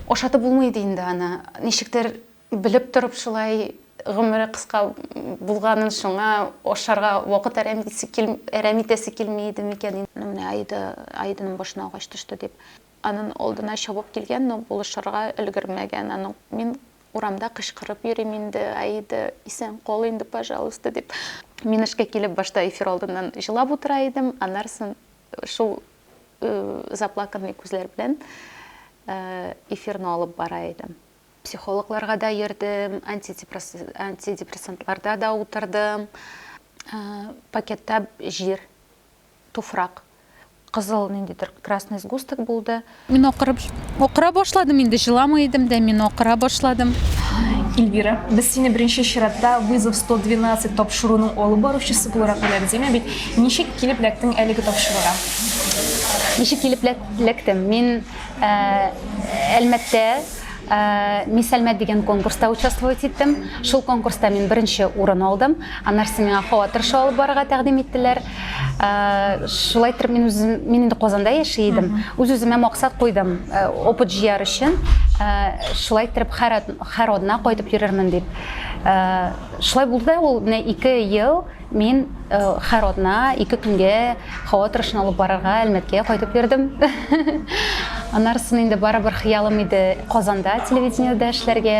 Ашатып булмый ди инде аны. Ничектер белеп торып шулай гомере кыска булганын шуңа ашарга вакыт әрәм итәсе кил, әрәм итәсе килми иде микән инде. Ну менә Аида, Аиданың башына агач төште дип, аның алдына чабып килгән, но булышырга өлгермәгән. Аның мин Урамда кычкырып йөрим инде, Аида, исән кал инде, пожалуйста, дип. Мин эшкә килеп, башта эфир алдыннан җылап утыра идем, аннарсын шул заплаканный күзләр белән эфирны алып бара идем. Психологларга да йөрдем, антидепрессантларда да утырдым, пакетта җир туфрак кызыл ниндидер красный сгусток булды. Мин акырып акыра башладым инде, җыламый идем дә, мин акыра башладым. Эльвира, без сине беренче чиратта вызов 112 тапшыруның алып баручысы буларак беләбез, әмма бит ничек килеп ләктең әлеге тапшыруга? Ничек килеп ләктем? Мин э, Әлмәттә Э, мисс әлмәт деген конкурста участвовать иттем шул конкурста мин беренче урын алдым аннары миңа хаватырша алып барырга тәкъдим иттеләр Э, шулай итеп мин үзем мин инде казанда яши идем үз үземә максат куйдым э, опыт җыяр өчен э, шулай итеп һәр одна кайтып йөрермен дип шулай булды да ул менә ике ел мин һәр одна ике көнгә һава торышын алып барырга әлмәткә кайтып йөрдем аннарысын инде барыбер хыялым иде казанда телевидениедә эшләргә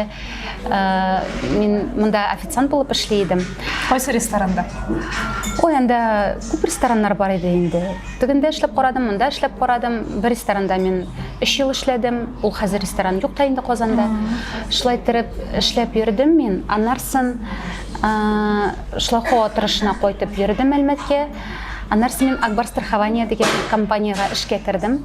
Э, мин мында официант булып эшли идем кайсы ресторанда ой анда күп рестораннар бар иде инде тегендә эшләп карадым монда эшләп карадым бер ресторанда мин өч ел эшләдем ул хәзер ресторан юк та инде казанда шулай иттереп эшләп йөрдем мин аннарсын э, шлахо тырышына кайтып йөрдем әлмәткә аннарсын мин акбар страхование дигән компаниягә эшкә кердем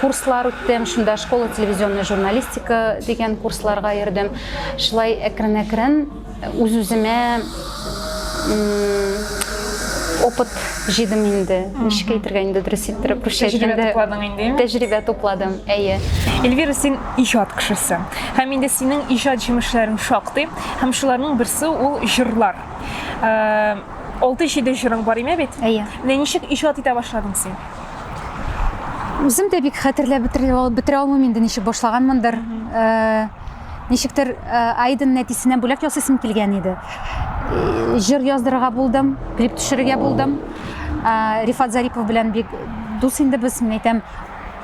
курслар үттем, шунда школа телевизионная журналистика дигән курсларга йөрдем. Шулай әкрен-әкрен үз-үземә опыт җыйдым инде. Ничек әйтергә инде дөрес иттереп, русча әйткәндә. Тәҗрибә тупладың инде. Тәҗрибә тупладым, әйе. Эльвира, син иҗат кешесе. Һәм инде синең иҗат җимешләрең шактый, һәм шуларның берсе ул җырлар. Э, алты-җиде җырың бар име бит? Әйе. Менә ничек иҗат итә башладың син? Үзем дә бик хәтерләп бетерә алмыйм инде, ничек башлаганмындыр. Э, ничектер э, Айден нәтисенә бүләк ясыйсым килгән иде. Э, җыр яздырырга булдым, клип төшерергә булдым. Рифат Зарипов белән бик дус инде без, мин әйтәм,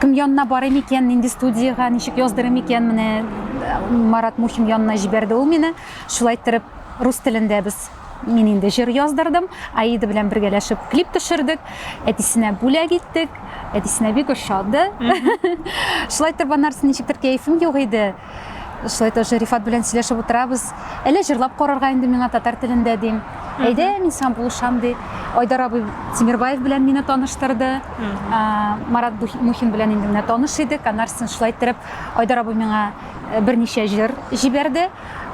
кем янына барыйм икән, нинди студияга, ничек яздырым икән, менә Марат Мухин янына җибәрде ул мине. Шулай иттереп рус телендә без Мин инде җыр яздырдым, Аида белән бергәләшеп клип төшердек, әтисенә бүләк иттек, әтисенә бик ошады. Шулай итеп, аннарсы ничектер кәефем юк иде. Шулай итеп, Рифат белән сөйләшеп утырабыз. Әллә җырлап карарга инде миңа татар телендә дим. Әйдә, мин сиңа булышам ди. Айдар абый Тимирбаев белән мине таныштырды. Марат Мухин белән инде менә таныш идек. Аннарсын шулай иттереп Айдар абый миңа берничә җыр җибәрде.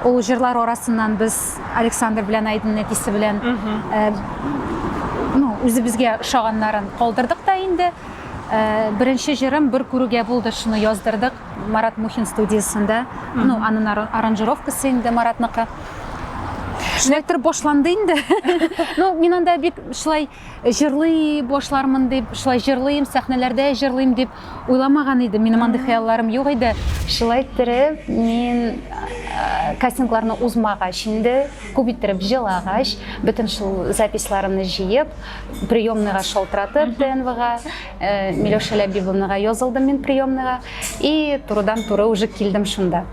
Ул җырлар арасыннан без Александр белән Айдын әтисе белән э, ну, үзебезгә ошаганнарын калдырдык та инде. Э, Беренче җырым бер күрүгә булды, шуны яздырдык Марат Мухин студиясендә. Ну, анын ара- аранжировкасы инде Маратныкы. Шулай торып башланды инде. Ну, мин анда бик шулай Җырлый башлармын дип, шулай җырлыйм, сәхнәләрдә җырлыйм дип уйламаган идем. Минем андый хыялларым юк иде. Шулай иттереп, мин кастингларны узмагач инде, күп иттереп җылагач, бөтен шул записларымны җыеп, приемныйга шалтыратып, ТНВга, Миләүшә Ләбибовнага язылдым мин приемныйга и турыдан-туры уже килдем шунда.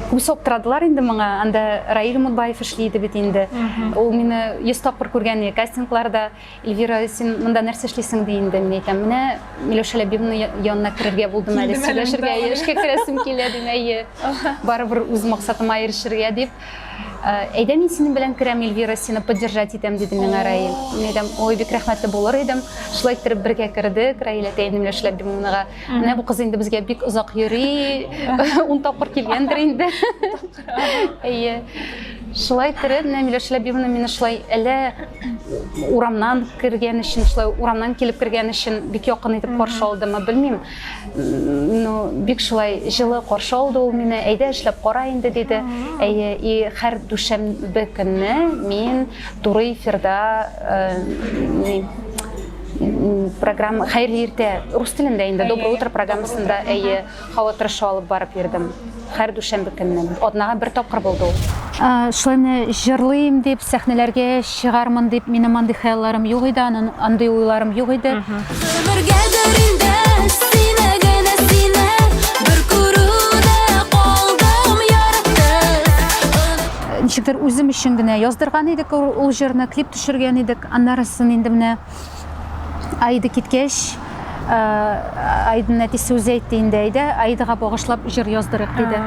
үз соптырадылар инде моңа анда раил мутбаев эшли иде бит инде ул мине йөз тапкыр күргән иде кастингларда эльвира син монда нәрсә эшлисең ди инде мин әйтәм менә миләүшә ләбибовнаның янына керергә булдым әле сөйләшергә эшкә керәсем килә дим әйе барыбер үз максатыма ирешергә дип әйдә мин синең белән керәм эльвира сине поддержать итәм диде миңа раил мин әйтәм ой бик рәхмәтле булыр идем шулай иттереп бергә кердек раил әтәйне миләүшә ләбибовнаға Менә бу кыз инде безгә бик озак йөри, ун тапкыр килгәндер инде. Әйе. Шулай тирән менә Миләүшә Ләбибовна мине шулай әллә урамнан кергән өчен, шулай урамнан килеп кергән өчен бик якын итеп каршы алдымы, белмим. Ну, бик шулай җылы каршы алды ул мине. Әйдә эшләп кара инде, диде. Әйе, и һәр дүшәмбе көнне мин туры эфирда э, программа хәерле иртә рус телендә инде доброе утро программасында әйе һава торышы алып барып йөрдем һәр дүшәмбе көнне атнага бер тапкыр булды ул шулай җырлыйм дип сәхнәләргә чыгармын дип минем андый хыялларым юк иде андый уйларым юк иде ничектер үзем өчен генә яздырган идек ул җырны клип төшергән идек Аннарысын инде менә Аида киткәч, Аиданың әтисе үзе әйтте инде, әйдә, Аидага багышлап җыр яздырыйк диде.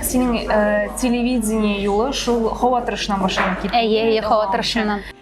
синең э, телевидение юлы шул хава тырышынан башланып китте әйе әйе хава тырышыннан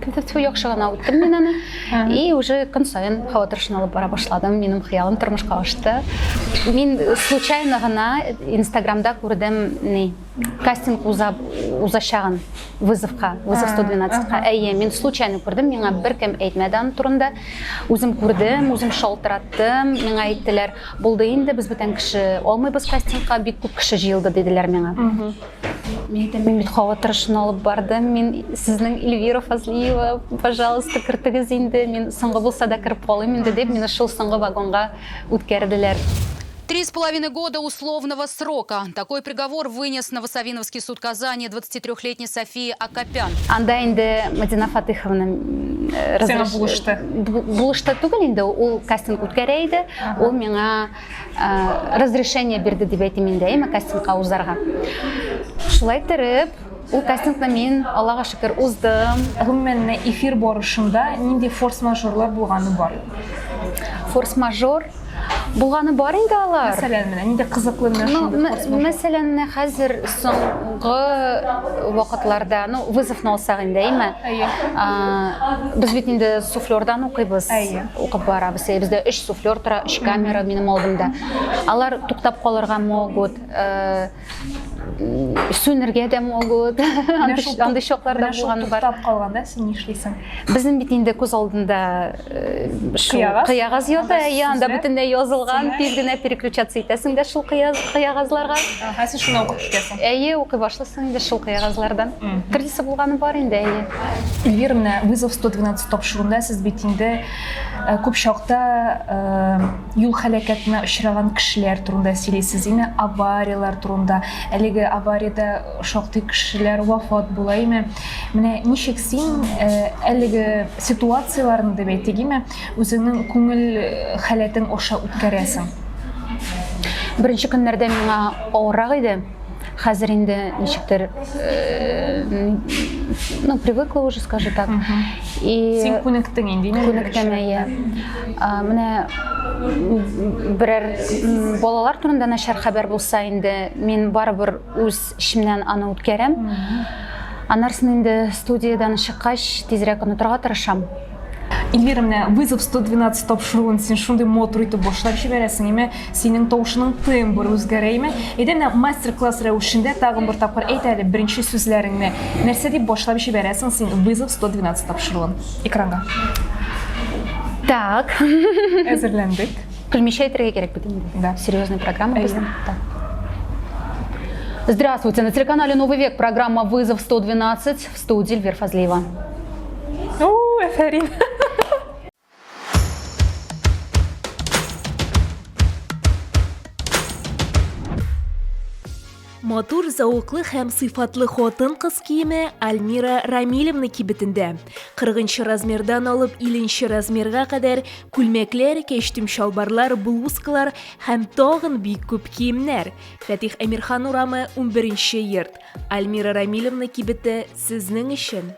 Тфу, яхшы гына үттем мин аны. И уже көн саен һава торышын алып бара башладым. Минем хыялым тормышка ашты. Мин случайно гына Инстаграмда күрдем, ни, кастинг уза узачагын вызовка, вызов 112-ка. Әйе, мин случайно күрдем, миңа беркем әйтмәде аны турында. Үзем күрдем, үзем шалтыраттым, миңа әйттеләр, булды инде, без бүтән кеше алмыйбыз кастингка, бик күп кеше җыелды, диделәр миңа. Мин дә мин кавы тырышын алып бардым. Мин сезнең Эльвира Фазлиева, пожалуйста, кертегез инде. Мин соңгы булса да кереп калыйм инде дип, мине шул соңгы вагонга үткәрделәр. Три с половиной года условного срока. Такой приговор вынес Новосавиновский суд Казани 23-летней Софии Акопян. Анда инде Мадина Фатыховна э, Сиңа булышты. Булышты түгел инде, ул кастинг үткәрә иде. Ул миңа разрешение бирде дип әйтим инде әйме кастингка узарга шулай иттереп ул кастингны мин аллага шөкер уздым гомумән эфир барышында нинди форс мажорлар булганы бар форс мажор булганы бар инде алар мәсәлән менә нинди кызыклы менә мәсәлән менә хәзер соңгы вакытларда ну вызовны алсак инде әйме без бит инде суфлердан укыйбыз әйе Укып барабыз. Э, бездә өч суфлер тора, өч камера минем алдымда. Алар туктап калырга могут, э, сүнергә дә могут. Андый чаклар да булган бар. Туктап калганда син нишлисең? Безнең бит инде күз алдында э, кыягаз ята, әйе, анда бөтенләй язылган, тиз генә переключаться итәсең дә шул кыягазларга. Ага, син шуны укып китәсең. Әйе, укый башлыйсың инде шул кыягазлардан. Төрлесе булганы бар инде, әйе. Эльвира, менә вызов 112 тапшыруында сез бит инде э, күп чакта э, юл һәлакәтенә очраган кешеләр турында сөйлисез, име аварияләр турында. Әлеге авариядә шактый кешеләр вафат була, име. Менә ничек син э, әлеге ситуацияләрне дип әйтик, име, Үзеңнең күңел халәтең аша үткәрәсең. Беренче көннәрдә миңа авыррак иде. Хәзер инде ничектер ну, привыкла уже, скажи так. И Син күнектең инде, инде күнектем, әйе. Менә берәр балалар турында начар хәбәр булса инде, мин барыбер үз эчемнән аны үткәрәм. Анарсын инде студиядан чыккач, тизрәк онытырга тырышам. Эльвира, менә вызов 112 тапшыруын син шундый мотор итеп башлап җибәрәсең, әмма синең тавышының тембры үзгәрә име? Әйдә менә мастер-класс рәвешендә тагын бер тапкыр әйт әле беренче сүзләреңне. Нәрсә дип башлап җибәрәсең син вызов 112 тапшыруын? Экранга. Так. Әзерләндек. Белмичә әйтергә кирәк бит инде. Да. Серьезная программа безнең. Так. Здравствуйте. На телеканале «Новый век» программа «Вызов 112». Студия Эльвир Фазлиева. О, афәрин! матур зәвыклы һәм сыйфатлы хатын кыз киеме Альмира Рамилевна кибетендә. 40 размердан алып 50 размерга кадәр күлмәкләр, кәчтүм чалбарлар, блузкалар һәм тагын бик күп киемнәр. Фәтих Әмирхан урамы 11 йорт. Альмира Рамилевна кибете сезнең өчен!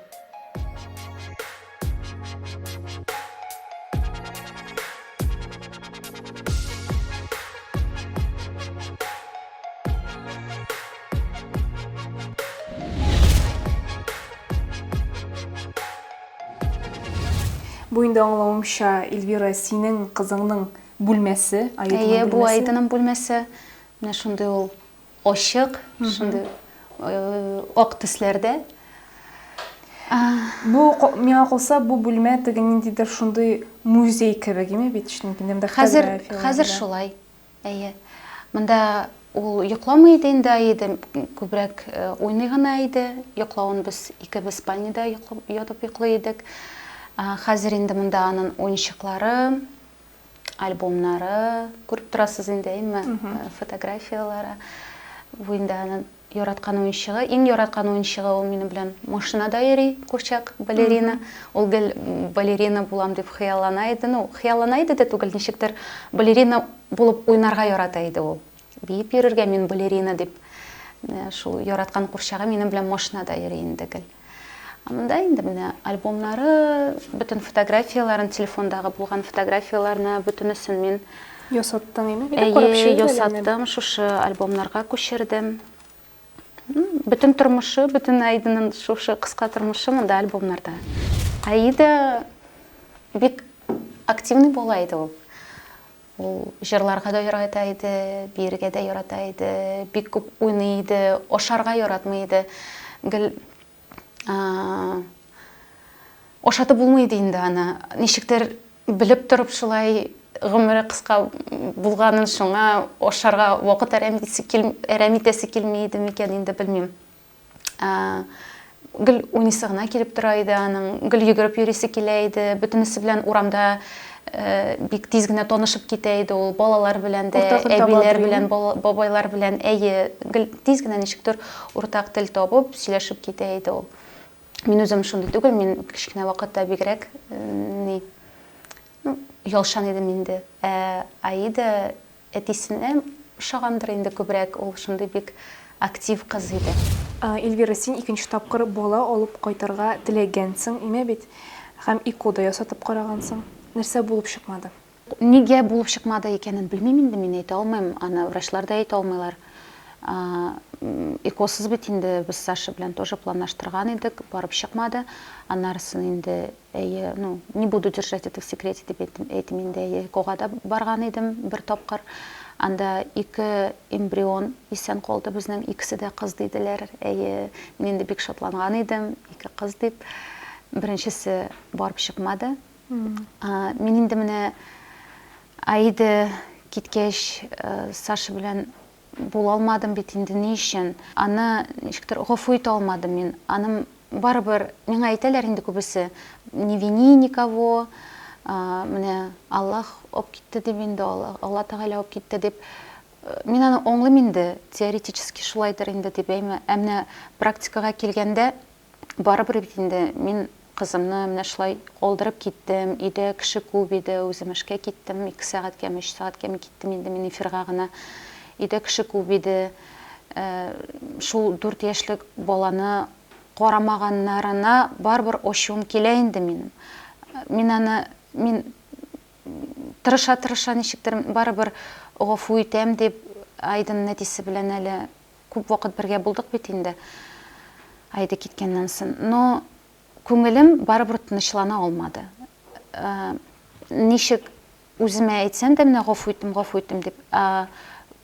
Бу инде аңлавымча, Эльвира, синең кызыңның бүлмәсе, Әйе, бу Айдының бүлмәсе. Менә шундый ул Ачык, шундый ак төсләрдә. Бу миңа калса, бу бүлмә теге ниндидер шундый музей кебек име бит, чөнки монда фотографияләр. Хәзер шулай. Әйе. Монда ул йокламый иде инде Аида, күбрәк уйный гына иде. Йоклавын без икебез спальняда ятып йоклый идек. Хәзер инде монда аның уенчыклары, альбомнары, күреп торасыз инде, әйме, фотографияләре. Бу инде аның яраткан уенчыгы. Иң яраткан уенчыгы ул минем белән машинада йөри, курчак, балерина. Ул гел балерина булам дип хыяллана иде. Ну, хыяллана иде дә түгел, ничектер балерина булып уйнарга ярата иде ул. Биеп йөрергә мин балерина дип. Шул яраткан курчагы минем белән машинада йөри инде гел. Монда инде менә альбомнары, бөтен фотографияләрен, телефондагы булган фотографияләрне бөтенесен мин ясаттың инде, бик карап чыгып ясаттым, шушы альбомнарга күчердем. Бөтен тормышы, бөтен Айдының шушы кыска тормышы монда альбомнарда. Айда бик активный була иде ул. Ул җырларга да ярата иде, биергә дә ярата иде, бик күп уйный иде, ашарга яратмый иде. Гел ашатып булмый иде инде аны. Ничектер белеп торып шулай гомере кыска булганын шуңа ашарга вакыт әрәм итәсе килми иде микән инде белмим. гел уйныйсы гына килеп тора иде аның гел йөгереп йөрисе килә иде бөтенесе белән урамда э, бик тиз генә танышып китә иде ул балалар белән дә әбиләр белән бабайлар белән әйе гел тиз генә ничектер уртак тел табып сөйләшеп китә иде ул мин үзем шундый түгел мин кечкенә вакытта бигрәк э, ни ну ялшан идем инде ә аида Әтисенә ошагандыр инде күбрәк, ул шундый бик актив кыз иде. Эльвира, син икенче тапкыр бала алып кайтырга теләгәнсең име бит һәм ИКО да ясатып карагансың. Нәрсә булып чыкмады? Нигә булып чыкмады икәнен белмим инде, мин әйтә алмыйм, аны врачлар да әйтә алмыйлар. ИКОсыз бит инде без Саша белән тоже планлаштырган идек, барып чыкмады. Аннарысын инде Әйе, ну, не буду держать это в секрете дип әйтим, әйтим инде, әйе, ЭКОга да барган идем бер тапкыр. Анда ике эмбрион исән калды безнең, икесе дә кыз диделәр. Әйе, мин инде бик шатланган идем, ике кыз дип. Беренчесе барып чыкмады. А, мин инде менә Аида киткәч, э, Саша белән Булалмадым бит инде ни өчен? Аны ничектер гафу итә алмадым мин. Аным барыбер, миңа әйтәләр инде күбесе, не вини никого, менә Аллаһ алып китте дип инде, Алла Тәгалә алып китте дип. Мин аны аңлыйм инде, теоретически шулайдыр инде дип, әмма практикага килгәндә, Барыбер бит инде мин кызымны менә шулай калдырып киттем, өйдә кеше күп иде, үзем эшкә киттем, ике сәгатькәме, өч сәгатькәме киттем инде мин эфирга гына. Өйдә кеше күп иде, шул дүрт яшьлек баланы карамаганнарына барыбер ачуым килә инде минем. Мин аны, мин тырыша-тырыша ничектер барыбер гафу итәм дип, Айдын нәтисе белән әле Күп вакыт бергә булдык бит инде Аида киткәннән сон. Но күңелем барыбер тынычлана алмады. Э, ничек үземә әйтсәм дә менә гафу иттем, гафу иттем дип, ә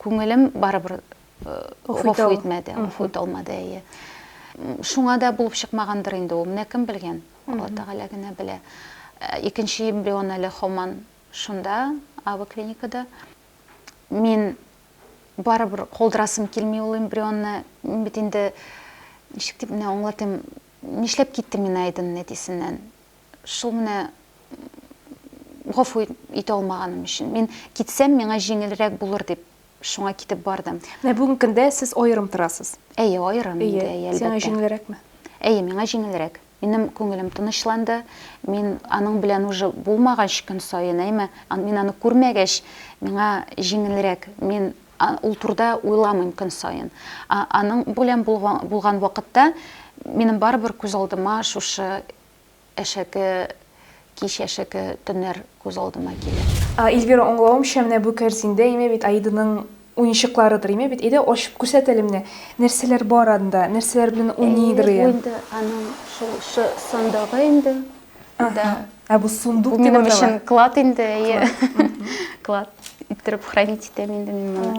күңелем барыбер э, гафу итмәде, гафу итә алмады, әйе. Шуңа да булып чыкмагандыр инде ул. Менә кем белгән? Алла Тәгалә генә белә. Э, икенче эмбрион әле хаман шунда, АВ клиникада. мин барыбер калдырасым килми ул эмбрионны. Мин бит инде ничек дип менә аңлатыйм, нишләп киттем мин Айдын әтисеннән? Шул менә гафу итә алмаганым өчен. Мин китсәм, миңа җиңелрәк булыр дип, шуңа китеп бардым. Менә бүгенге көндә сез аерым торасыз. Әйе, аерым инде, әйе, әлбәттә. Сиңа җиңелрәкме? Әйе, миңа җиңелрәк. Минем күңелем тынычланды. Мин аның белән уже булмагач көн саен, әйме, мин аны күрмәгәч, миңа җиңелрәк. Мин ул турда уйламыйм көн саен. А аның белән булган вакытта минем барыбер күз алдыма шушы әшәке кич, әшәке төннәр күз алдыма килә. Эльвира, аңлавымча, менә бу кәрзиндә, әйме бит, Аиданың Уенчыкларыдыр име бит, әйдә ачып күрсәт әле менә, нәрсәләр бар анда, нәрсәләр белән уйныйдыр ие. Әйе, бу инде аның шул шы сандыгы инде. Да. Ә бу сундук дип атала. Бу минем өчен клад инде, әйе. Клад иттереп хранить итәм инде мин моны.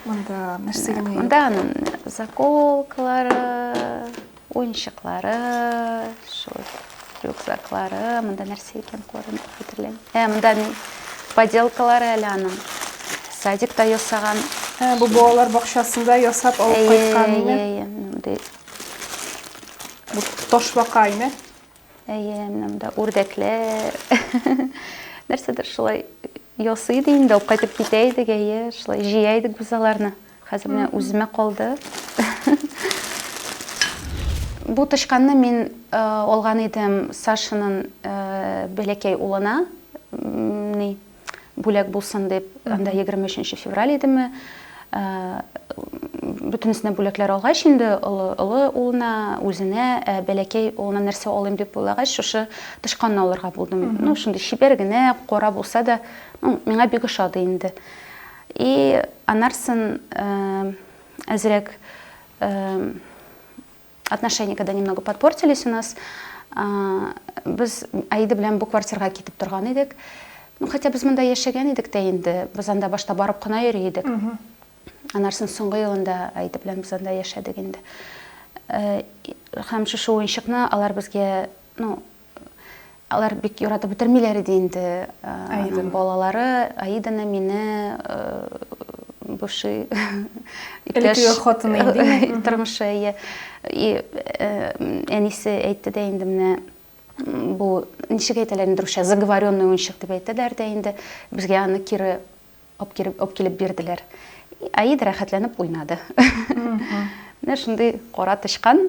Монда нәрсә генә юк. Монда аның заколкалары. Уенчыклары, шул рюкзаклары, монда нәрсә икән күренеп хәтерләмим. Ә, монда поделкалары әле аның. Садикта ясаган. Ә, бу балалар бакчасында ясап алып кайткан ине. Бу ташбака ине. Әйе, менә монда үрдәкләр. Нәрсәдер шулай ясый иде инде, алып кайтып китә идек, әйе, шулай җыя идек без аларны. Хәзер менә үземә калды. Бу тычканны мин алган идем Сашаның бәләкәй улына. Ни, бүләк булсын дип, анда 23 февраль идеме, э, бөтенесенә бүләкләр алгач инде олы олы улына үзенә э, бәләкәй улына нәрсә алыйм дип уйлагач шушы тычканны алырга булдым ну шундый чибәр генә кара булса да ну, миңа бик ошады инде и анарсын э, әзрәк э, Отношения, когда немного подпортились у нас, без Аида белән бу квартирга китеп торган идек. Ну, хотя без монда яшәгән идек тә инде, без анда башта барып кына йөри идек. Анарсын соңгы елында Аида белән без анда яшәдек инде. Һәм шушы уенчыкны алар безгә, ну, Алар бик яратып бетермиләр иде инде Аиданың балалары. Аиданы мине бывший иптәш хатыны инде тормышы ие. И әнисе әйтте дә инде менә бу ничек әйтәләр инде русча заговоренный уенчык дип әйтәләр дә инде. Безгә аны кире Апкиреп, апкилеп бирделәр. Аида рәхәтләнеп уйнады. Менә шундый кара тычкан.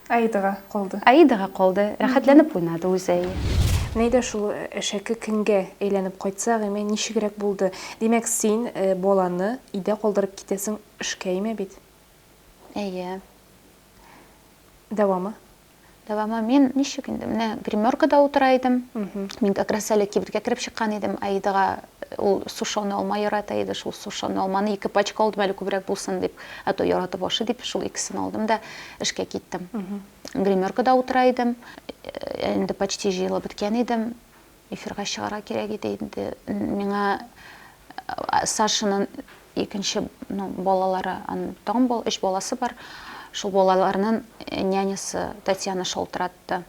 Аидага калды. Аидага калды. Рәхәтләнеп уйнады үзе әйе. Менә дә шул әшәке көнгә әйләнеп кайтса, гыймә ничегрәк булды. Димәк, син баланы өйдә калдырып китәсең, эшкә имә бит. Әйе. Дәвамы? Дәвамы мин ничек инде, менә гримеркада утыра идем. Мин как раз әле кибеткә кереп чыккан идем, Аидага ул сушеный алма ярата иде, шул сушеный алманы ике пачка алдым әле күбрәк булсын дип, ә то яратып ашый дип, шул икесен алдым да эшкә киттем. Гримеркада утыра идем, инде почти җыелып беткән идем. Эфирга чыгарга кирәк иде инде миңа Сашаның икенче ну балалары аның тагын бал өч баласы бар шул балаларның нянясы Татьяна шалтыратты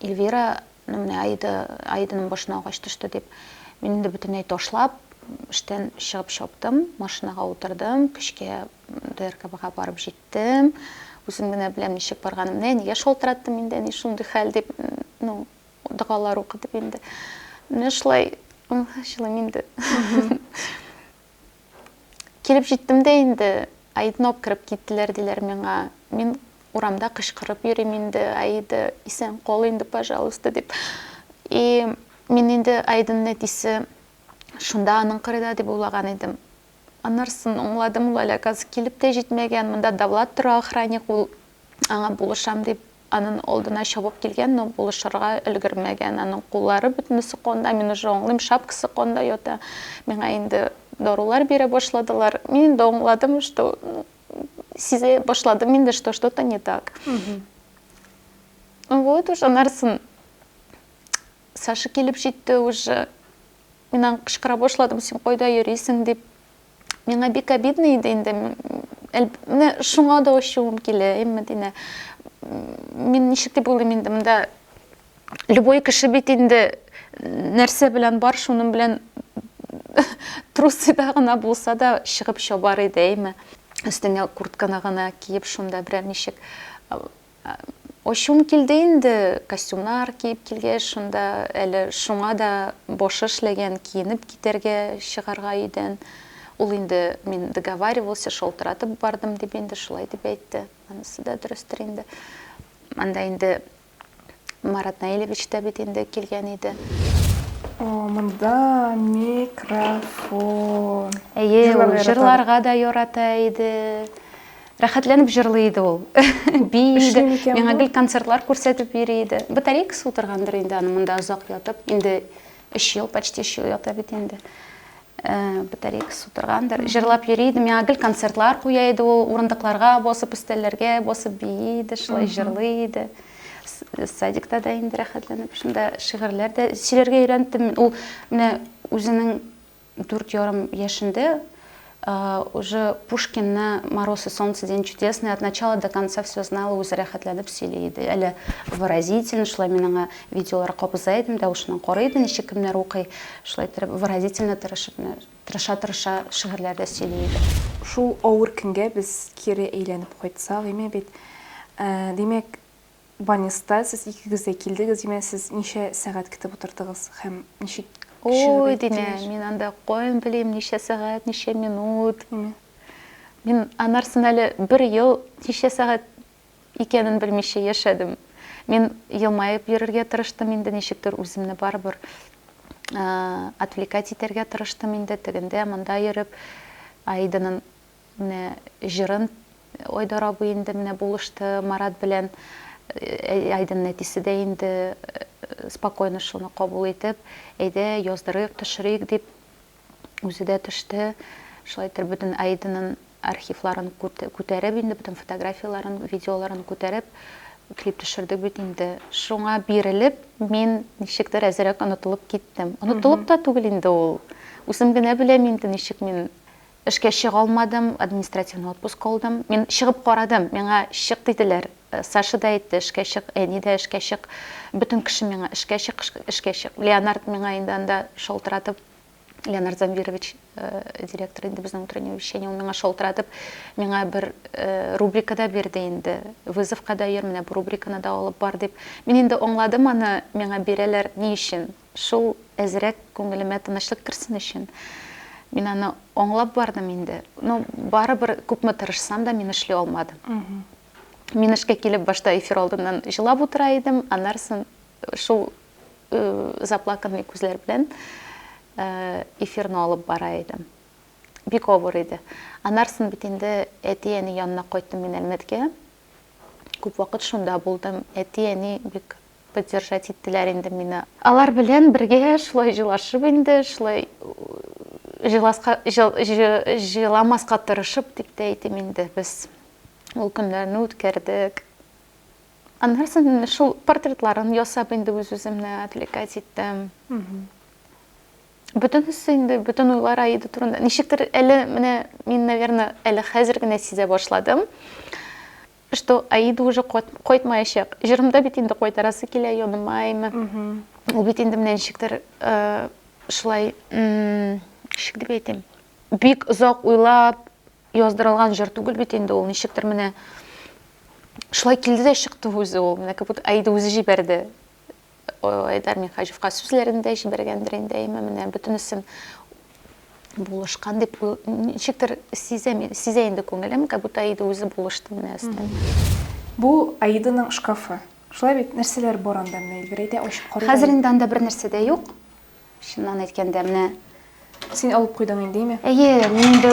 Эльвира ну менә Аида Аиданың башына агач төште дип мин инде бөтенләй ташлап эштән чыгып чаптым машинага утырдым көчкә ДРКБга барып җиттем үзем генә беләм ничек барганымны әнигә шалтыраттым инде әни шундый хәл дип ну Догалар укы дип инде. Менә шулай җылыйм инде. Килеп җиттем дә инде, Аидны алып кереп киттеләр диләр миңа. Мин урамда кычкырып йөрим инде, Аида, исән кал инде, пожалуйста, дип. И мин инде Аиданың әтисе шунда аның кырыйда дип уйлаган идем. Аннарсын аңладым, ул әле газ килеп тә җитмәгән, монда Давлат тора охранник, ул аңа булышам дип анын алдына чабып килгән, но булышырга өлгермәгән, анын куллары бөтенесе канда, мин уже аңлыйм, шапкасы канда ята, миңа инде дарулар бирә башладылар, мин инде аңладым, что сизә башладым инде, что что-то не так. Вот уж аннарсын Саша килеп җитте уже. Мин аңа кычкыра башладым, син кайда йөрисең дип. Миңа бик обидно иде инде. Менә шуңа да ачуым килә, әй Мәдинә. Мин ничек дип уйлыйм инде монда любой кеше бит инде нәрсә белән бар, шуның белән трусыда гына булса да чыгып чабар иде, әйме. Өстеңә куртканы гына киеп, шунда берәр ничек Ачуым килде инде, костюмнар киеп килгәч, шунда әле шуңа да башы эшләгән, киенеп китәргә чыгарга өйдән. Ул инде, мин договаривался, шалтыратып бардым, дип инде шулай дип әйтте. Анысы да дөрестер инде. Анда инде Марат Наилевич та бит инде килгән иде. О, монда микрофон. Әйе, ул җырларга да ярата иде. Рәхәтләнеп җырлый иде ул. Бии иде. Эшли микән Миңа бу? гел концертлар күрсәтеп йөри иде. Батарейкасы утыргандыр инде аны монда озак ятып. Инде өч ел, почти өч ел ята бит инде. Э, Батарейкасы утыргандыр. Җырлап йөри иде. Миңа гел концертлар куя иде ул. Урындыкларга басып, өстәлләргә басып бии иде, шулай җырлый иде. С- Садикта да инде рәхәтләнеп шунда шигырьләр дә сөйләргә өйрәндем. Ул менә үзенең Дүрт ярым яшендә уже Пушкинны Мороз и солнце, День чудесный от начала до конца все знала үзе рәхәтләнеп сөйли иде. Әле выразителен шулай мин аңа видеолар кабыза идем, тавышыннан карый идем, ничек кемнәр укый, шулай иттереп выразительно тырышып, тырыша-тырыша шигырьләрдә сөйли иде. Шул авыр көнгә без кире әйләнеп кайтсак име бит. Димәк, Баниста сез икегез дә килдегез, димә, сез ничә сәгать китеп утырдыгыз һәм ничек чыгып Ой, димә, әйттегез? мин анда каян белим, ничә сәгать, ничә минут. Мгм. Мин анарсын әле бер ел ничә сәгать икәнен белмичә яшәдем. Мин елмаеп йөрергә тырыштым инде, ничектер үземне барыбер а, отвлекать итәргә тырыштым инде, тегендә, монда йөреп, Аиданын Менә җырын Айдар абый инде менә булышты Марат белән. Айдын әтисе дә инде спокойно шуны кабул итеп, әйдә, яздырыйк, төшерик дип, үзе дә төште. Шулай итеп бөтен Айдынын архивларын күтәреп инде, бөтен фотографияләрен, видеоларын күтәреп, клип төшердек бит инде. Шуңа бирелеп, мин ничектер әзрәк онытылып киттем. Онытылып та түгел инде ул. Үзем генә беләм инде ничек мин Эшкә чыга алмадым, административный отпуск алдым. Мин чыгып карадым, миңа чык диделәр. Саша да әйтте, эшкә чык, әни дә эшкә чык. Бөтен кеше миңа эшкә чык, эшкә чык. Леонард миңа инде анда шалтыратып, Леонард Замвирович, директор инде безнең утреннего вещания, ул миңа шалтыратып, миңа бер рубрика да бирде инде. Вызовка да йөр, менә бу рубриканы да алып бар дип. Мин инде аңладым аны, миңа бирәләр ни өчен. Шул әзрәк күңелемә тынычлык керсен өчен, мин аны аңлап бардым инде. Но барыбер күпме тырышсам да, мин эшли алмадым. Мин эшкә килеп, башта эфир алдыннан җылап утыра идем, аннарсын шул заплаканный күзләр белән эфирны алып бара идем. Бик авыр иде. Аннарсын бит инде әти-әни янына кайттым мин Әлмәткә. Күп вакыт шунда булдым. Әти-әни бик Поддержать иттеләр инде мине. Алар белән бергә шулай җылашып инде, шулай җыласка, җыл, җы, җыламаска тырышып дип тә әйтим инде, без ул көннәрне үткәрдек. Аннары соң шул портретларын ясап инде үз-үземне отвлекать иттем. Бөтенесе инде, бөтен уйлар Аида турында. Ничектер әле менә мин, наверное, әле хәзер генә сизә башладым. Что Аида уже кайтмаячак. Җырымда бит инде кайтарасы килә, янымаймы. Ул бит инде менә ничектер шулай, ничек дип әйтим, бик озак уйлап яздырылган җыр түгел бит инде ул, ничектер менә шулай килде дә чыкты үзе ул, менә как будто Аида үзе җибәрде. Айдар Минхаҗевка сүзләрен дә җибәргәндер инде, әйме, менә бөтенесен булышкан дип ничектер сизә, сизә инде күңелем, как будто Аида үзе булышты менә өстән. Бу Аиданың шкафы. Шулай бит, нәрсәләр бар анда, менә Эльвира әйтә, ачып карыйк әле. Хәзер инде анда бернәрсә дә юк. Чыннан әйткәндә, менә Син алып куйдың инде, име? Әйе, мин инде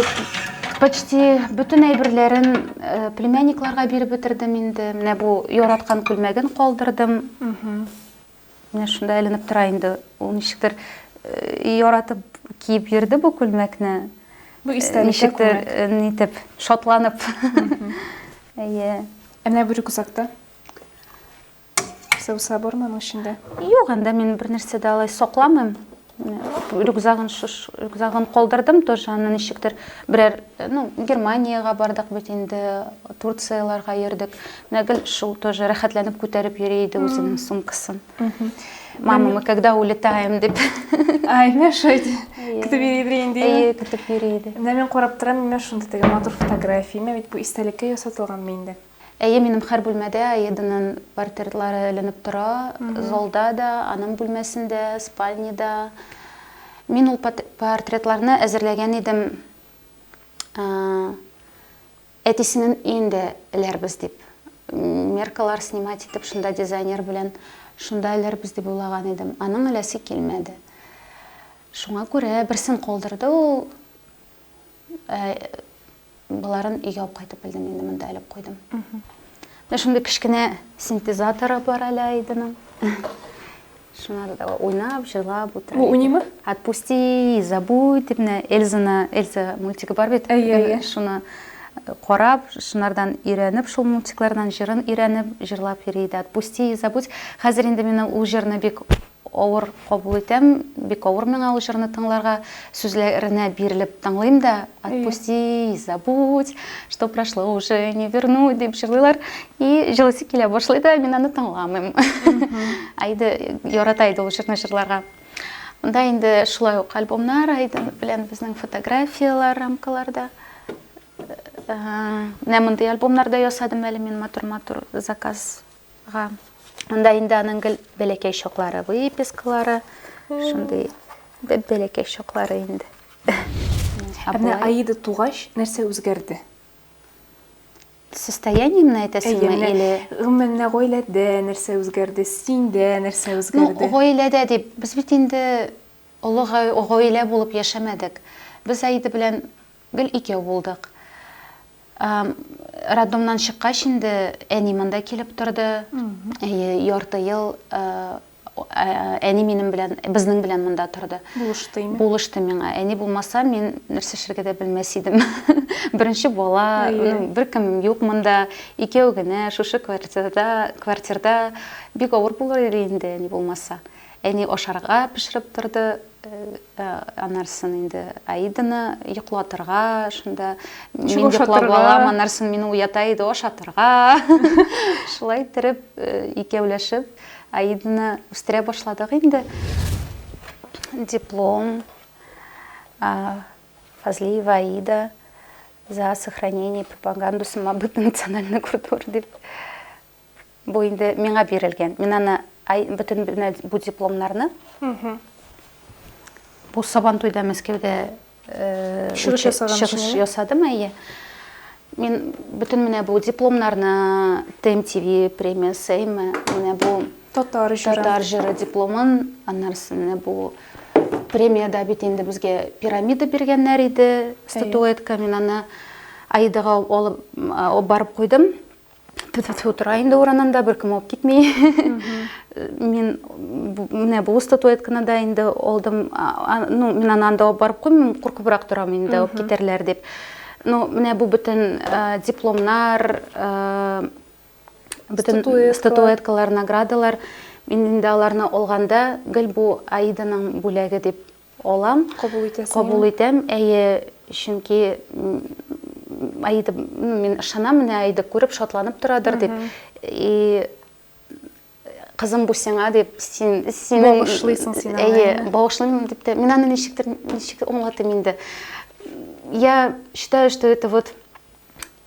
почти бөтен әйберләрен э, племянникларга биреп бетердем инде. Менә бу яраткан күлмәген калдырдым. Менә шунда эленеп тора инде. Ул ничектер э, яратып киеп йөрде бу күлмәкне. Бу истәлеккә Ничектер күмәк. э, нитеп, шатланып. Әйе. Ә менә бу рюкзакта? Сылса бар моның эчендә? Юк, анда мин бер нәрсә дә алай сакламыйм. Рюкзагын шуш рюкзагын калдырдым тоже, аны ничектер берәр, ну, Германиягә бардык бит инде, Турцияләргә йөрдек. Менә гел шул тоже рәхәтләнеп күтәреп йөри иде үзенең сумкасын. Мама, мы когда улетаем дип. Ай, менә шулай көтеп йөри инде. Әйе, көтеп йөри иде. Менә мин карап торам, менә шундый теге матур фотография, бит бу истәлеккә ясатылганмы инде? Әйе, минем хәр бүлмәдә Аиданың портртлары эленеп тора, залда да, аның бүлмәсендә, спальнеда. Мин ул портретларны әзерләгән идем, әтисенен өендә эләрбез дип. Меркалар снимать итеп, шунда дизайнер белән шунда эләрбез дип уйлаган идем. Аның эләсе килмәде. Шуңа күрә берсен калдырды ул, Боларын өйгә алып кайтып белдем инде, монда элеп куйдым. Менә шундый кечкенә синтезаторы бар әле Айдының. Шуна да уйнап, җырлап утыра. Бу уйныймы? Отпусти, забудь дип менә Эльзаны, Эльза мультигы бар бит. Әйе, әйе. Шуны карап, шунардан өйрәнеп, шул мультиклардан җырын өйрәнеп, җырлап йөри иде. Отпусти, забудь. Хәзер инде мин ул җырны бик Авыр кабул итәм, бик авыр миңа ул җырны тыңларга. Сүзләренә бирелеп тыңлыйм да, отпусти, забудь, что прошло уже не вернуть дип җырлыйлар. И җылысы килә башлый да, мин аны тыңламыйм. Әйде, ярата иде ул җырны җырларга. Монда инде шулай ук альбомнар Айдын белән безнең фотографияләр рамкаларда. Менә мондый альбомнар да ясадым әле мин матур-матур заказ Га. Монда инде аның гел бәләкәй чаклары, выпискалары, шундый бәләкәй чаклары инде. Ә менә Аида тугач, нәрсә үзгәрде? Состояниемне әйтәсеңме или? Гомумән, менә гаиләдә нәрсә үзгәрде, синдә нәрсә үзгәрде? Ну, гаиләдә дип, без бит инде олы гаилә булып яшәмәдек. Без Аида белән Гел икәү булдык. Роддомнан чыккач инде әни монда килеп торды. Әйе, ярты ел әни минем белән, безнең белән монда торды. Булышты име? Булышты миңа. Әни булмаса, мин нәрсә эшләргә дә белмәс идем. Беренче бала, беркем юк монда, икәү генә шушы квартирада, квартирада бик авыр булыр иде инде әни булмаса. Әни ашарга пешереп торды, аннарсын инде Аиданы йоклатырга, шунда мин йоклап алам, аннарсын мине уята иде, ашатырга. Шулай иттереп, икәүләшеп Аиданы үстерә башладык инде. Диплом Фазлиева Аида за сохранение пропаганду самобыта национальной культуры дип Бу инде миңа бирелгән. Мин аны ай бөтен бу дипломнарны. Бу Сабантуйда Мәскәүдә э, чыгыш ясадым, әйе. Мин бөтен менә бу дипломнарны ТМ ТВ премиясе, әйме, менә бу татар җыры. Татар җыры дипломын, аннарсы менә бу премияда бит инде безгә пирамида биргәннәр иде, статуэтка. Мин аны Аидаға алып барып куйдым. Тфу-тфу-тфу тора инде урынында, беркем алып китми. Мин менә бу статуэтканы да инде алдым. Ну, мин аны анда алып барып куймыйм, куркыбрак торам инде алып китәрләр дип. Ну, менә бу бөтен дипломнар, бөтен статуэткалар, наградалар. Мин инде аларны алганда, гел бу Аиданың бүләге дип Алам. Кабул итәсең. Кабул итәм, әйе, чөнки Аида, мин ышанам, менә Аида күреп, шатланып торадыр дип. И кызым бу сиңа дип, син син багышлыйсың син аны. Әйе, багышлыйм дип тә. Мин аны ничектер ничек аңлатыйм инде. Я считаю, что это вот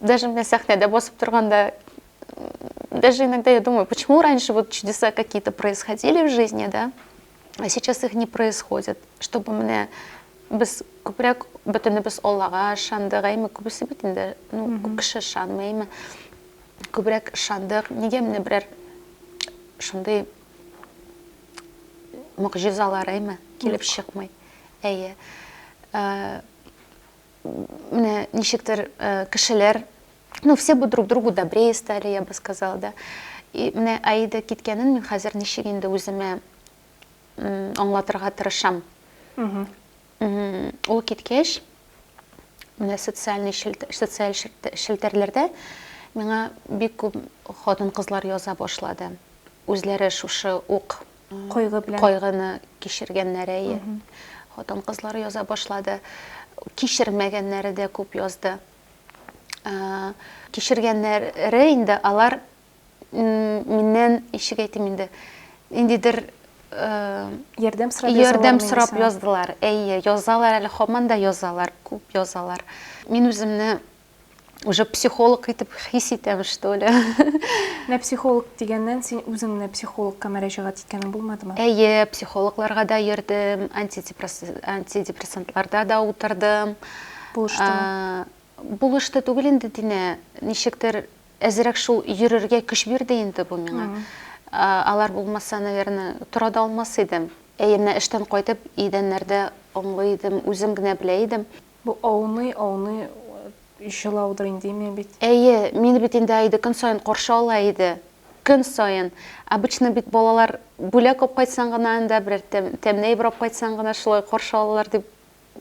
Даже менә сәхнәдә басып торганда, даже иногда я думаю, почему раньше вот чудеса какие-то происходили в жизни, да, а сейчас их не происходит, чтобы менә без күбрәк бөтенебез Аллага ышандык, әйме, күбесе бит инде, ну, күп кеше ышанмый, әйме, күбрәк ышандык, нигә менә берәр шундый могҗизалар, әйме, килеп чыкмый. Әйе. Э, менә ничектер кешеләр ну все бы друг другу добрее стали я бы сказала да и менә аида киткәнен мин хәзер ничек инде үземә аңлатырга тырышам ул киткәч менә социальный социаль челтәрләрдә миңа бик күп хатын кызлар яза башлады үзләре шушы ук Кайгы белән. Кайгыны кичергәннәре әйе. Хатын кызлары яза башлады. Кичермәгәннәре дә күп язды. Кичергәннәре инде алар миннән ничек әйтим инде ниндидер ярдәм сорап ярдәм сорап яздылар. Әйе, язалар әле хаман да язалар, күп язалар. Мин үземне уже психолог итеп хис итәм, что ли. Менә психолог дигәннән, син үзең менә психологка мөрәҗәгать иткәнең булмадымы? Әйе, психологларга да йөрдем, антидепрессантларда да утырдым. Булыштымы? Булышты түгел инде Динә, ничектер әзрәк шул йөрергә көч бирде инде бу миңа. Алар булмаса, наверное, тора да алмас идем. Әйе, менә эштән кайтып, идәннәрдә оңлый идем, үзем генә белә идем. Бу ауный, ауный җылаудыр инде, имя бит. Әйе, мине бит инде Аида көн саен каршы ала иде. Көн саен. Обычно бит балалар бүләк алып кайтсаң гына анда, берәр тәмле әйбер алып кайтсаң гына шулай каршы алалар дип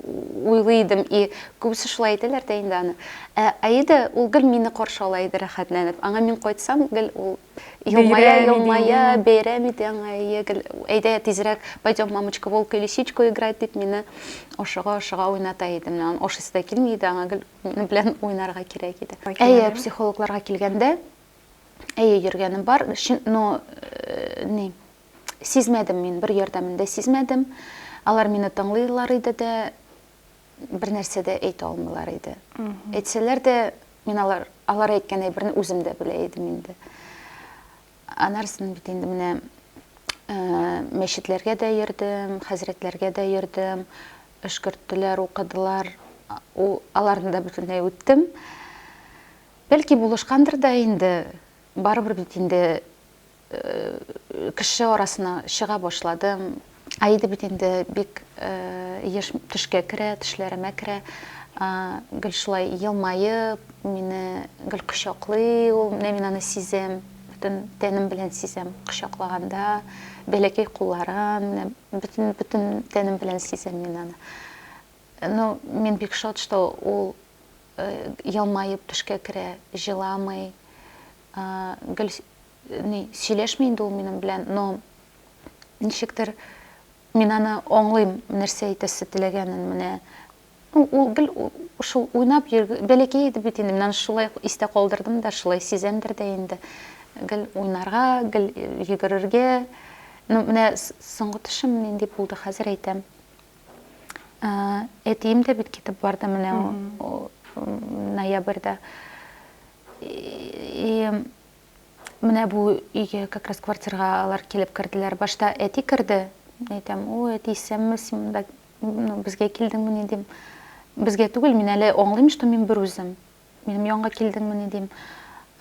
уйлый идем. И күбесе шулай әйтәләр дә инде аны. Ә Аида, ул гел мине каршы ала иде рәхәтләнеп. Аңа мин кайтсам, гел ул Елмая, Бәйрәм елмая, инде. бәйрәм иде аңа. Әйе, гел, әйдә тизрәк, пойдем, мамочка, волк или сичку играть, дип мине ашыга-ашыга уйната иде. Менә аны ашыйсы да килми иде, аңа гел минем белән уйнарга кирәк иде. Әйе, Әйе. психологларга килгәндә, әйе, йөргәнем бар, чын, но э, ни, сизмәдем мин, бер ярдәмен дә сизмәдем. Алар мине тыңлыйлар иде дә, бернәрсә дә әйтә алмыйлар иде. Әйтсәләр дә, мин алар, алар әйткән әйберне үзем дә белә идем инде. Анарсының бит инде менә мәчетләргә дә йөрдем, хәзрәтләргә дә йөрдем, өшкерттеләр, укыдылар, аларны да бөтенләй үттем. Бәлки булышкандыр да инде, барыбер бит инде кеше арасына чыга башладым. Аида бит инде бик еш төшкә керә, төшләремә керә. Гел шулай елмаеп, мине гел кочаклый ул. Менә мин аны сизәм, бөтен тәнем белән сизәм. Кочаклаганда, бәләкәй кулларын, менә бөтен бөтен тәнем белән сизәм мин аны. Ну, мин бик шат, что ул елмаеп төшкә керә, җыламый. А, гел ни, сөйләшми инде ул минем белән, но ничектер мин аны аңлыйм, нәрсә әйтәсе теләгәнен менә. Ну, ул гел шул уйнап йөр, бәләкәй иде бит инде, мин аны шулай истә калдырдым да, шулай сизәмдер дә инде. Гел уйнарга, гел йөгерергә. Ну, менә соңгы төшем нинди булды, хәзер әйтәм. Әтием дә бит китеп барды менә ноябрьдә. И менә бу өйгә как раз квартирага алар килеп керделәр. Башта әти керде. Мин әйтәм, о, әти, исәнме, син монда ну, безгә килдеңмени дим. Безгә түгел, мин әле аңлыйм, что мин бер үзем. Минем янга килдеңмени дим.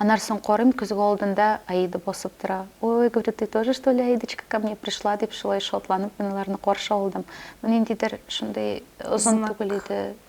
Аннан соң карыйм, көзге алдында Аида басып тора. Ой, говорю, ты тоже, что ли, Аидочка, ко мне пришла, дип шулай шатланып мин аларны каршы алдым. Ну, ниндидер шундый озын түгел иде.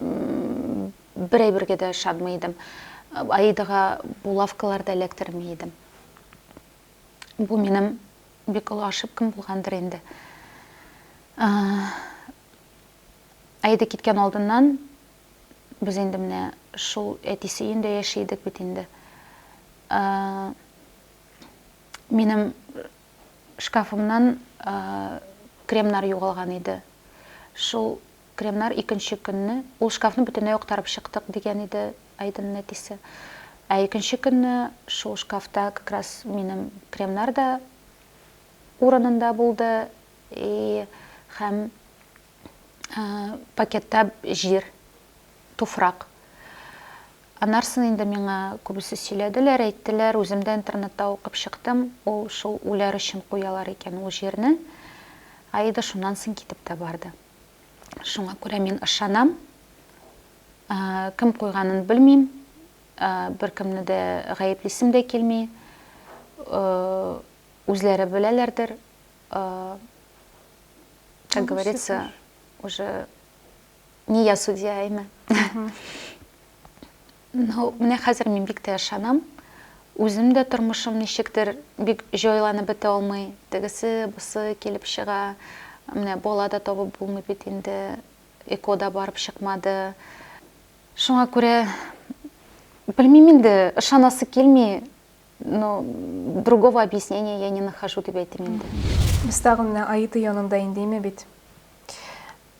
бер әйбергә дә ышанмый идем. Аидага булавкалар да эләктерми идем. Бу минем бик олы ошибкам булгандыр инде. Аида киткән алдыннан без инде менә шул әтисе өендә яши идек бит инде. Минем Шкафымнан кремнар югалган иде. Шул кремнар икенче көнне, ул шкафны бөтенләй актарып чыктык, дигән иде Айдынның әтисе. Ә икенче көнне шул шкафта как раз минем кремнар да урынында булды, и һәм пакетта җир, туфрак. Анарсын инде миңа күбесе сөйләделәр, әйттеләр, үзем дә интернетта укып чыктым, ул шул үләр өчен куялар икән ул җирне. Аида шуннан соң китеп тә барды. Шуңа күрә мин ышанам. Кем куйганын белмим, беркемне дә гаеплисем дә килми. Үзләре беләләрдер, э, как говорится, уже не я судья, а имя. Ну, менә хәзер мин бик тә ышанам. Үзем дә тормышым ничектер бик җайланып бетә алмый. Тегесе, бусы килеп чыга. Менә бала да табып булмый бит инде. Эко да барып чыкмады. Шуңа күрә белмим инде, ышанасы килми. но другого объяснения я не нахожу дип әйтим инде. Без тагы менә Аида янында индеме бит.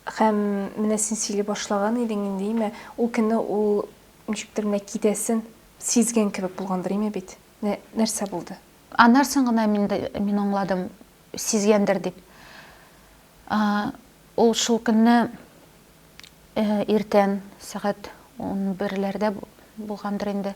Хәм менә син сөйли башлаган идең индеме, ул көнне ул ничектер менә китәсен сизгән кебек булгандыр име бит. Менә нәрсә булды? Аннарсын гына мин мин аңладым, сизгәндер дип. А, ул шул көнне э, иртән сәгать 11-ләрдә булгандыр инде.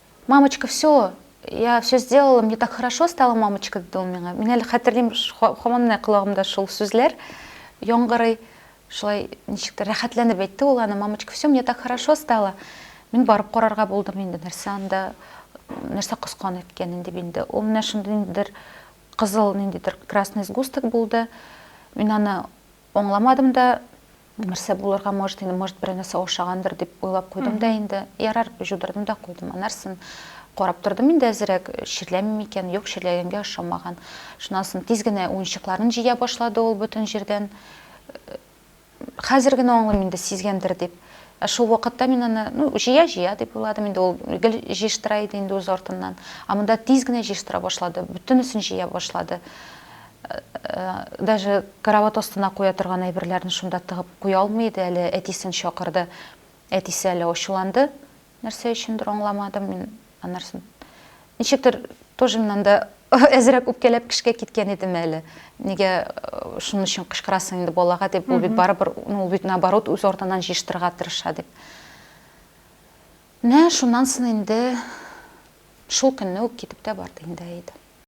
Мамочка, все, я все сделала, мне так хорошо стало, мамочка, диде ул миңа. Мин әле хәтерлим, хаман менә колагымда шул сүзләр яңгырый. Шулай ничек тә рәхәтләнеп әйтте ул аны, мамочка, все, мне так хорошо стало. Мин барып карарга булдым инде, нәрсә анда, нәрсә коскан икәнен дип инде. Ул менә шундый ниндидер кызыл, ниндидер красный сгусток булды. Мин аны аңламадым да, Нәрсә булырга может, инде, может, берәр нәрсә ошагандыр дип уйлап куйдым да инде. Ярар, җудырдым да куйдым. Анарсын карап тордым инде әзрәк, чирләми микән? Юк, чирләгәнгә ошамаган. Шуннан соң тиз генә уенчыкларын җыя башлады ул бөтен җирдән. Хәзер генә аңлыйм инде, сизгәндер дип. Ә шул вакытта мин аны, ну, җыя-җыя дип уйладым инде, ул гел җыештыра иде инде үз артыннан. Ә монда тиз генә җыештыра башлады, бөтенесен җыя башлады. Даже карават астына куя торган әйберләрен шунда тыгып куя алмый иде әле, әтисен чакырды. Әтисе әле ачуланды, нәрсә өчендер аңламадым мин анарсын. Ничектер тоже мин анда әзрәк үпкәләп кешегә киткән идем әле. Нигә шуның өчен кычкырасың инде балага дип, ул бит барыбер, ну ул бит наоборот үз артыннан җыештырырга тырыша дип. Менә шуннан соң инде шул көнне үк китеп тә барды инде Әйдә.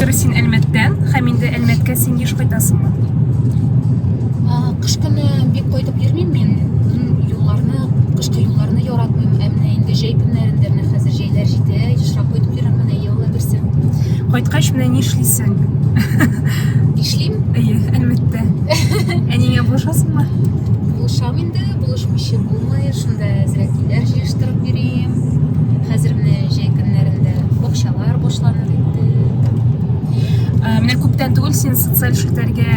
Хәзер син Әлмәттән, һәм инде Әлмәткә син еш кайтасыңмы? Кыш көне бик кайтып йөрмим мин. Юлларны, кышкы юлларны яратмыйм. Ә менә инде җәй көннәрендә менә хәзер җәйләр җитә, ешрак кайтып йөрәм менә еллар берсе. Кайткач менә ни эшлисең? Эшлим? Әйе, әлбәттә. Әнигә булышасыңмы? Булышам инде, булышмыйча булмый. Шунда әзрәк килер җир Тырып йөрим. Хәзер менә җәй көннәрендә бакчалар бушланыр инде. Ә, Менә күптән түгел син социаль челтәргә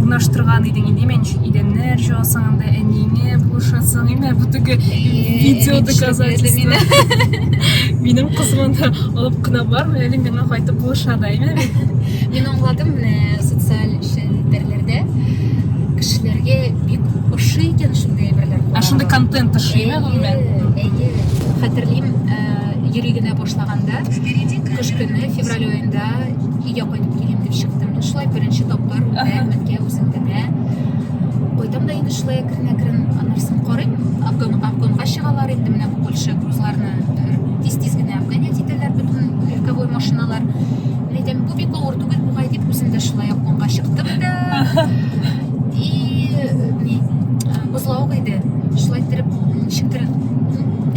урнаштырган идең инде мен идәннәр җуасың анда әниеңә булышасың инде бу теге видео доказательство минем кызым анда алып кына бармый әле миңа кайтып булыша да име Мин аңладым менә социаль челтәрләрдә кешеләргә бик ошый икән шундый әйберләр. ә шундый контент ошыймы Хәтерлим, йөри генә башлаганда, кыш көне, февраль айында өйгә кайтып килим дип чыктым. Шулай беренче тапкыр Мәккә үзем генә. Кайтам да инде шулай әкрен-әкрен, аннан соң карыйм, обгонга чыгалар инде менә бу Польша грузларны тиз-тиз генә обгонять итәләр бөтен легковой машиналар. Мин әйтәм, бу бик авыр түгел бугай дип, үзем дә шулай обгонга чыктым да. Слава иде, шулай иттереп шиктереп,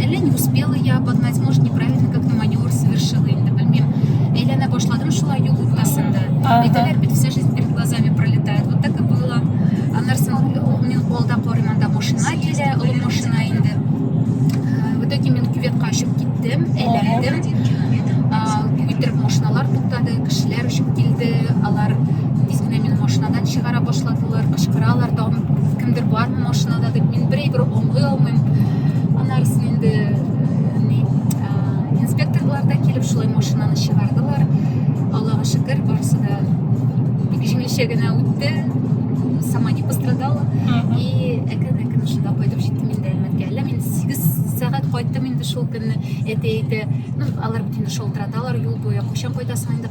әллә не успела я обогнать, может неправильно как-то маневр совершила, инде белмим. Әйләнә башладым шулай юл уртасында. Ага. Әйтәләр бит, вся жизнь перед глазами пролетает. Вот так и было. Аннары соң э, мин алда карыйм, анда машина килә, олы машина инде. Э, В итоге мин кюветка очып киттем, әйләндем. А, Иттереп машиналар туктады, кешеләр очып килде, алар тиз генә мине машинадан чыгара башладылар. Алар кычкыралар, тагын кемдер бармы машинада дип, мин бер әйбер аңлый алмыйм. Аннарысын инде ни инспекторлар да килеп шулай машинаны чыгардылар. Аллага шөкер, барысы да бик җиңелчә генә үтте. Сама не пострадала. И әкрен-әкрен шунда кайтып җиттем инде Әлмәткә. Әллә мин 8 сәгать кайттым инде шул көнне. Әти әйтә, ну алар бит инде шалтыраталар юл буе. Кайчан кайтасың инде?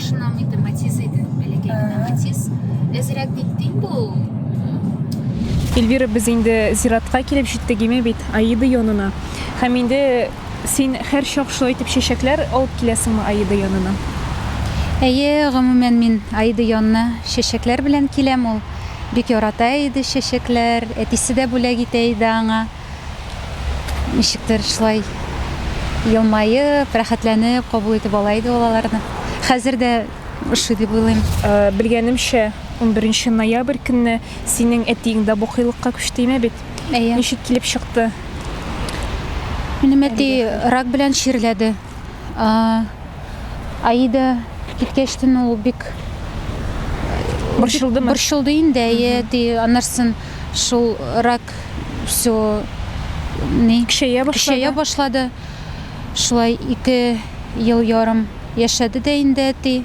Шуннан инде матиз иде, бәләкәй генә матиз. Әзрәк бит дим бу. Эльвира, без инде зиратка килеп җиттек име бит, Аида янына. Һәм инде син һәр чак шулай итеп чәчәкләр алып киләсеңме Аида янына? Әйе, гомумән мин Аида янына чәчәкләр белән киләм. Ул бик ярата иде чәчәкләр, әтисе дә бүләк итә иде аңа. Ничектер шулай елмаеп, рәхәтләнеп кабул итеп ала иде ул аларны. Хәзер дә ошый дип уйлыйм. Белгәнемчә, унберенче ноябрь көнне синең әтиең дә букыйлыкка күчте име бит? Әйе. Ничек килеп чыкты? Минем әти рак белән чирләде. Аида киткәчтен ул бик Борчылдымы? борчылды инде, әйе, әти. Аннарсын шул рак бик все ни көчәя башлады. Көчәя башлады. Шулай ике ел ярым яшәде дә инде әти.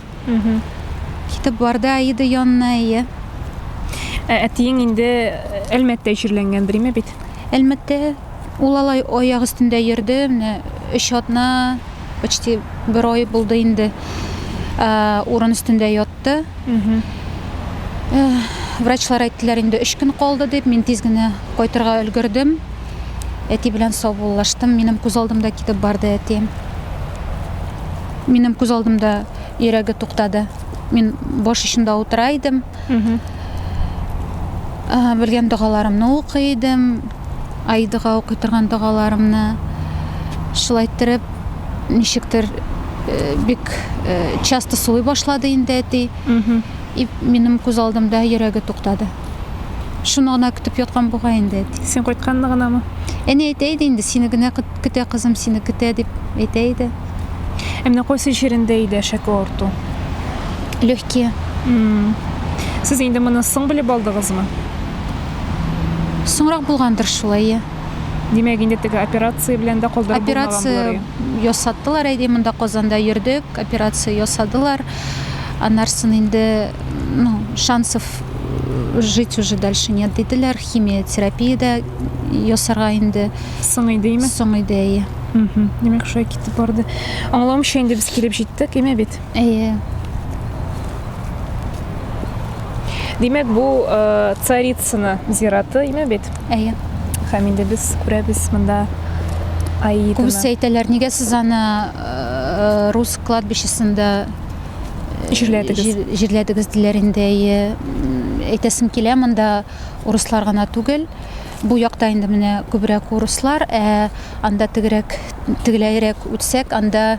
Китеп барды Аида янына, әйе. Ә әтиең инде Әлмәттә җирләнгән дриме бит? Әлмәттә ул алай аяк өстендә йөрде, менә өч атна, почти бер ай булды инде. Ә, урын өстендә ят кайтты. Врачлар әйттеләр инде, өч көн калды дип. Мин тиз генә кайтырга өлгердем. Әти белән саубуллаштым. Минем күз алдымда китеп барды әти. Минем күз алдымда йөрәге туктады. Мин баш очында утыра идем. Белгән догаларымны укый идем. Аидага укый торган догаларымны шулай иттереп, ничектер бик часто сулый башлады инде әти. И минем күз алдымда йөрәге туктады. Шуны гына көтеп яткан буга инде әти. Син кайтканны гынамы? Әни әйтә иде инде, сине генә көтә кызым, сине көтә дип әйтә иде. Ә менә кайсы җирендә иде әшәке авырту? Легкие. Сез инде моны соң белеп алдыгызмы? Соңрак булгандыр шул, әйе. Димәк, инде теге операция белән дә калдырып Операция булмаган булыр. ясаттылар, әйе, монда Казанда йөрдек, операция ясадылар. Аннарсын инде, ну, шансов жить уже дальше нет диделәр, химиотерапия дә ясарга инде. Соң иде, име? Соң иде, әйе. Димәк, шулай китеп барды. Аңламыйча инде без килеп җиттек, име бит? Әйе. Димәк, бу э, Царицыно зираты име бит? Әйе. Һәм инде без күрәбез монда Аиданы. Күбесе әйтәләр, нигә сез аны э, рус кладбищесында э, җирләдегез? Җирләдегез диләр инде. Әйе. Әйтәсем килә, монда урыслар гына түгел. Бу якта инде менә күбрәк урыслар, ә анда тегерәк, тегеләйрәк үтсәк, анда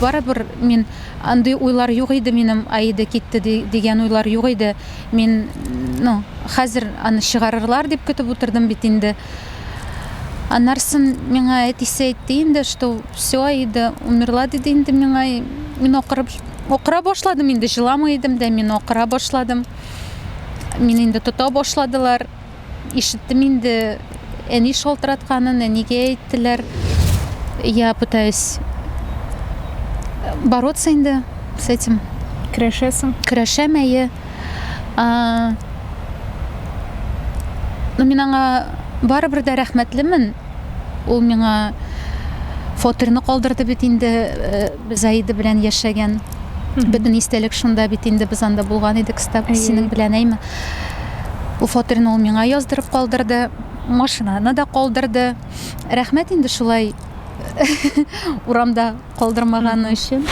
Барыбер мин андый уйлар юк иде минем Аида китте дигән уйлар юк иде мин ну хәзер аны чыгарырлар дип көтеп утырдым бит инде аннарсын миңа әтисе әйтте инде что все Аида умерла диде инде миңа мин акырып акыра башладым инде җыламый идем дә мин акыра башладым мин инде тота башладылар. Ишеттем инде, әни шалтыратканын, әнигә әйттеләр. Я пытаюсь бороться инде с этим. Көрәшәсең? Көрәшәм, әйе. Ну, мин аңа барыбер дә рәхмәтлемен. Ул миңа фатирны калдырды бит инде. Заида белән яшәгән бөтен истәлек шунда бит инде, без анда булган идек, стаб синең белән әйме. Бу фатирны ул миңа яздырып калдырды, машинаны да калдырды. Рәхмәт инде шулай урамда калдырмаганы өчен.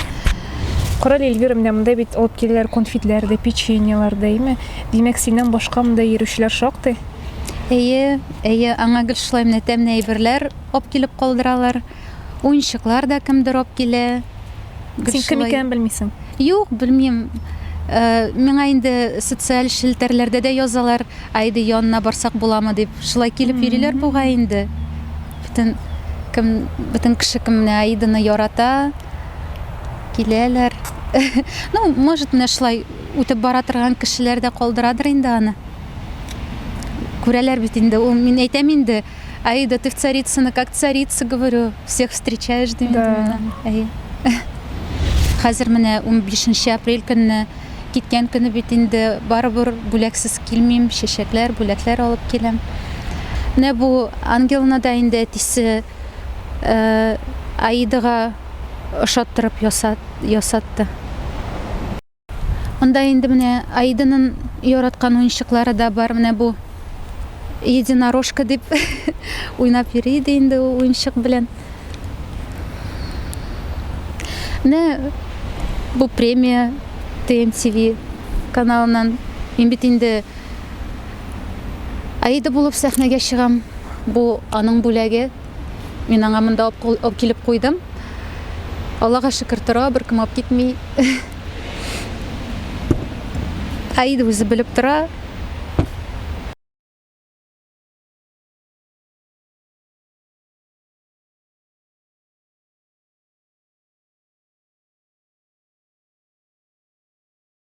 Карале, Эльвира, менә монда бит алып киләләр конфетлар да, печеньелар да, әйме? Димәк, синнән башка монда йөрүчеләр шактый? Әйе, әйе, аңа гел шулай менә тәмле әйберләр алып килеп калдыралар. Уенчыклар да кемдер алып килә. Син кем икәнен белмисең? Юк, белмим. Э, миңа инде социаль челтәрләрдә дә язалар, Айда янына барсак буламы дип. Шулай килеп йөриләр бугай инде. Бөтен кем, бөтен кеше кемне Айданы ярата, киләләр. Ну, может, менә шулай үтеп бара торган кешеләр дә калдырадыр инде аны. Күрәләр бит инде. Ул мин әйтәм инде, Аида, ты в Царицыно, как царица, говорю, всех встречаешь, дим инде Да. мин. Әйе. Хәзер менә 15 апрель көнне киткән көне бит инде барыбер бүләксез килмим, чәчәкләр, бүләкләр алып киләм. Менә бу ангелны да инде әтисе э, Аидага ошаттырып ясат, ясатты. Анда инде менә Аиданын яраткан уенчыклары да бар, менә бу единорожка дип уйнап йөри иде инде ул уенчык белән. Менә бу премия ТМТВ каналыннан. Мин бит инде Аида булып сәхнәгә чыгам, бу аның бүләге. Мин аңа монда алып килеп куйдым. Аллага шөкер тора, беркем алып китми. Аид үзе белеп тора.